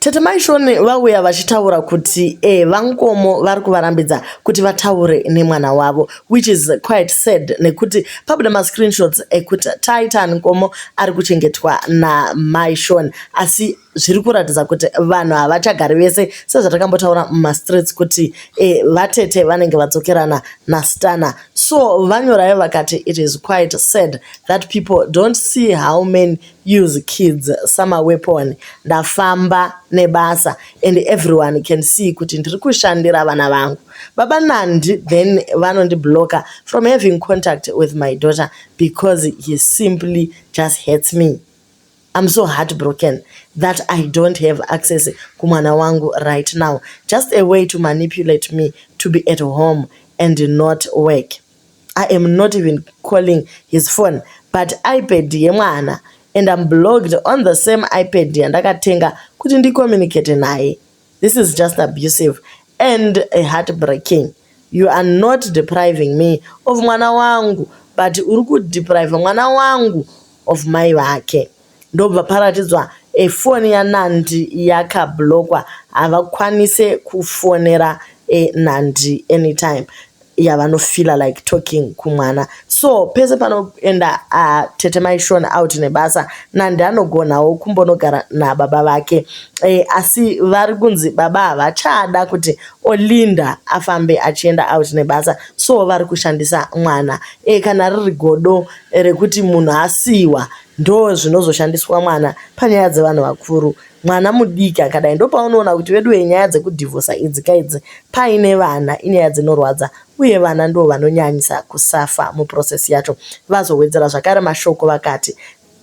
Tete mai Shoni vauya vachitaura kuti eh, vankomo vari kuvarambidza kuti vataure nemwana wavo which is quite sad nekuti pabuda mascreenshots ekuti Titan Nkomo ari kuchengetwa namai Shoni asi zviri kuratidza kuti vanhu havachagari vese sezvatakambotaura mumastreets kuti eh, vatete vanenge vadzokerana nastana so vanyorayo vakati it is quite sad that people don't see how many use kids sama weapon ndafamba nebasa and everyone can see kuti ndiri kushandira vana vangu baba Nandi then vanondi blocker from having contact with my daughter because he simply just hates me I'm so heartbroken that I don't have access kumwana wangu right now just a way to manipulate me to be at home and not work I am not even calling his phone but iPad yemwana and I'm blocked on the same iPad yandakatenga kuti ndi communicate naye. This is just abusive and a heartbreaking. You are not depriving me of mwana wangu but uri kudepriva mwana wangu of mai vake. Ndobva paratidzwa foni yaNandi yakablockwa havakwanise kufonera Nandi anytime yavanofeeler like talking kumwana so pese panoenda tete mai Sean out nebasa Nandi anogonawo kumbonogara nababa vake asi vari kunzi baba havachada kuti Olinda afambe achienda out nebasa so vari kushandisa mwana kana riri godo rekuti munhu asiiwa Ndozvinozoshandiswa mwana panyaya dzevanhu vakuru. Mwana mudiki akadai ndopaunoona kuti veduwe nyaya dzekudhivhosa idzi kaidzi paine vana inyaya dzinorwadza uye vana ndivo vanonyanyisa kusafa muprocess yacho. Vazowedzera zvakare mashoko vakati,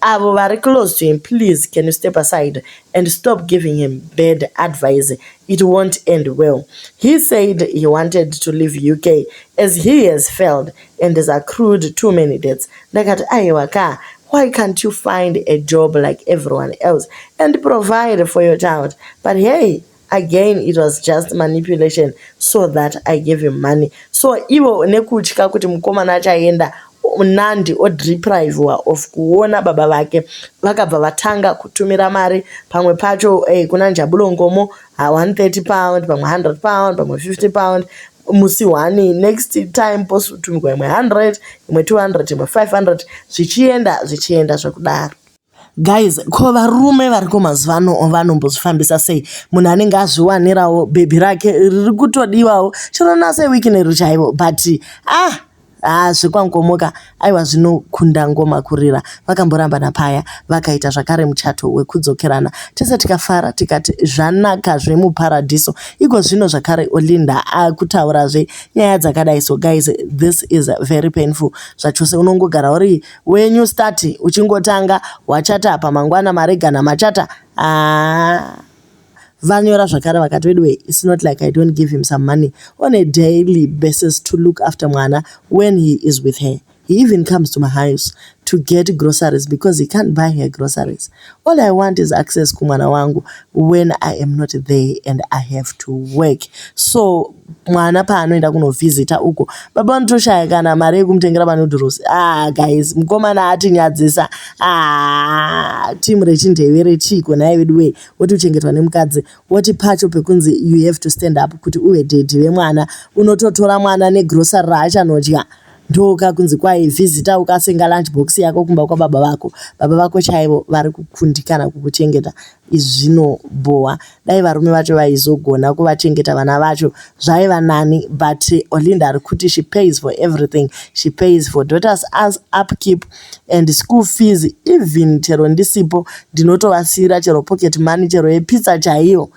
Avo vari close to him please can you step aside and stop giving him bad advise it won't end well. He said he wanted to leave UK as he has failed and zvaccrued too many debts ndakati ayewa kaa why can't you find a job like everyone else and provide for your child but hey again it was just manipulation so that i gave him money so ivo nekutya kuti mukomana achaenda nandi odeprivewa of kuona baba vake vakabva vatanga kutumira mari pamwe pacho hey, eh, kuna njabulongomo 130 pound pamwe 100 pound pamwe 50 pound musi hwani next time posutumirwa imwe 100 imwe 200 imwe 500 zvichienda zvichienda zvekudaro guys ko varume variko mazuva ano vanombozvifambisa sei munhu anenge azviwanirawo bhebhi rake riri kutodiwawo chero naseweekend chaivo but ah Haa zvekwaNkomoka aiwa zvinokunda ngoma kurira. Vakamborambana paya vakaita zvakare muchato wekudzokerana tese tikafara tikati zvanaka zvemuparadhiso. Ikozvino zvakare Olinda akutaurazve nyaya dzakadai so guys this is very painful zvachose unongogara uri weNew Start uchingotanga wachata apa mangwana maregana machata haa. Vanyora zvakare vakati veduwee it's not like I don't give him some money on a daily basis to look after mwana when he is with her. He even comes to my house to get groceries because he can't buy her groceries. All I want is access kumwana wangu when I am not there and I have to work. So mwana paanoenda kunovhizita uko baba vanotoshaya kana mari yekumutengera manudhurosi. Ah guys, mukomana atinyadzisa. Ah, timu rechindevere chiiko nhai veduwee. woti uchengetwa nemukadzi woti pacho pekunzi you have to stand up kuti uve dhedhi vemwana unototora mwana negrocery raachanodya ndoka kunzi kwai vhizita ukasenga lunch box yako kumba kwababa vako baba vako chaivo vari kukundikana kukuchengeta izvi zvinobhowa dai varume vacho vaizogona kuvachengeta vana vacho zvaiva nani but olinda ari kuti she pays for everything she pays for daughters as upkeep and school fees even chero ndisipo ndinotovasiira chero pocket money chero yepizza chaiyo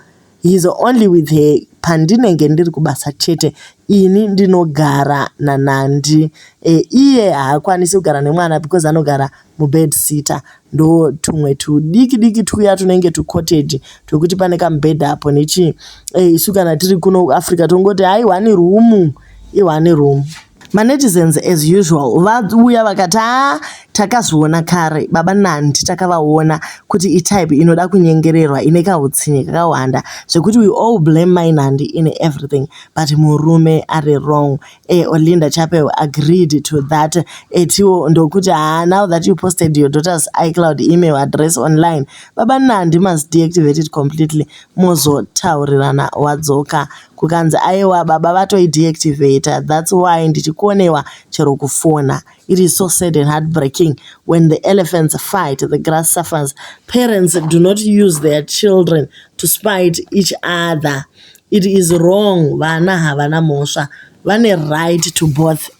he's only with her pandinenge ndiri kubasa chete ini ndinogara nanandi e, iye haakwanisi kugara nemwana because anogara mubed sitter ndo tumwe tudiki diki twuya tunenge tucottage twekuti pane kamubed apo nechii e, isu kana tiri kuno africa tongoti hai one room i one room manetizens as usual vauya vakati a takazviona kare baba nandi takavaona kuti itype inoda kunyengererwa ine kahutsinye kakawanda zvekuti we all blame mai nandi in everything but murume ari wrong e olinda chapel agreed to that etiwo ndokuti ha now that you posted your daughter's icloud email address online baba nandi must deactivate it completely mozotaurirana wadzoka kukanzi ayewa baba vatoi deactivator that's why ndichikonewa chero kufona it is so sad and heartbreaking when the elephants fight the grass suffers parents do not use their children to spite each other it is wrong vana havana mhosva vane right to both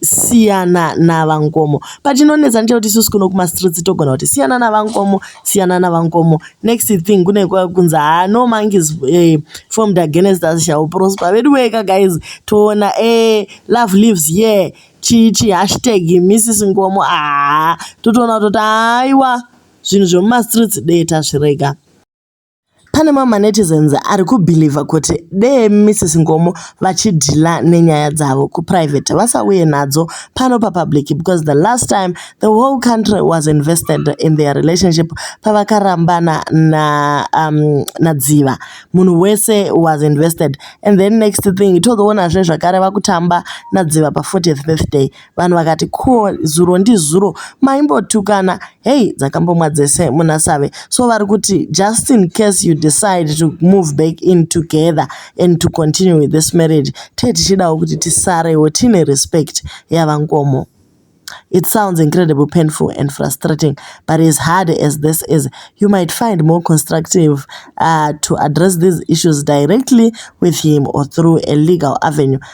siyana navankomo but chinonetsa ndechekuti isusu kuno kumastreets togona kuti siyana navankomo siyana navankomo next thing kune kunzi haa no monkeys eh, formed against us shall prosper vedu weka guys toona eh, love lives ye yeah. chichi hashtag mrs ngomo haa totoona kutoti haiwa zvinhu zvemumastreets dee tazvirega Pane mamwe manetizens ari kubhilivha kuti dee Missus Ngomo vachidhila nenyaya dzavo kuprivate vasauye nadzo pano papublic because the last time the whole country was invested in their relationship pavakarambana na, um, naDziva munhu wese was invested and then next thing tozoonazve zvakare vakutamba naDziva pa 40th birthday Vanhu vakati cool zuro ndizuro maimbotukana hey dzakambomwa dzese muna save so vari kuti just in case you decide to move back in together and to continue with this marriage tee tichidawo kuti tisarewo tiine respect yavangomo It sounds incredibly painful and frustrating, but as hard as this is, you might find more constructive uh, to address these issues directly with him or through a legal avenue.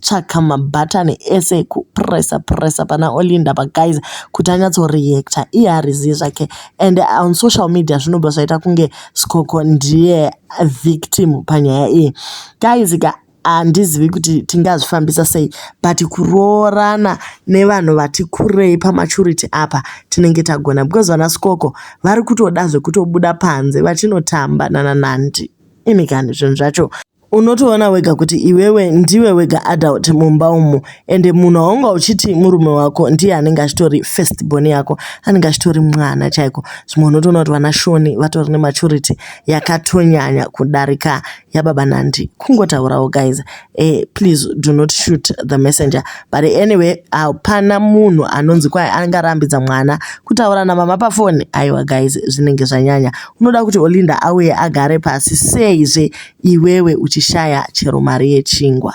tsvaka ma button ese eku presser presser pana Olinda apa guys kuti anyatso reactor iye hariziye zvake and on social media zvinobva zvaita kunge Scoko ndiye victim panyaya iyi guys ka handizivi kuti tingazvifambisa sei but kuroorana nevanhu vati kurei pamaturity apa tinenge tagona because vana Scoko vari kutoda zvekutobuda panze vachinotamba nana Nandi ini kani zvinhu zvacho Unotoona wega kuti iwewe ndiwe wega adult mumba umu ende munhu waunga uchiti murume wako ndiye anenge achitori first born yako anenge achitori mwana chaiko. Zvimwe unotoona kuti vana Shoni vatori nematurity yakatonyanya kudarika yababa Nandi. Kungotaurawo guys. Eh, please do not shoot the messenger. But anyway, hapana munhu anonzi kwaye anenge arambidza mwana kutaura namama pafoni. Aiwa guys, zvinenge zvanyanya. Unoda kuti Olinda auye agare pasi seizve iwewe uchishaya chero mari yechingwa.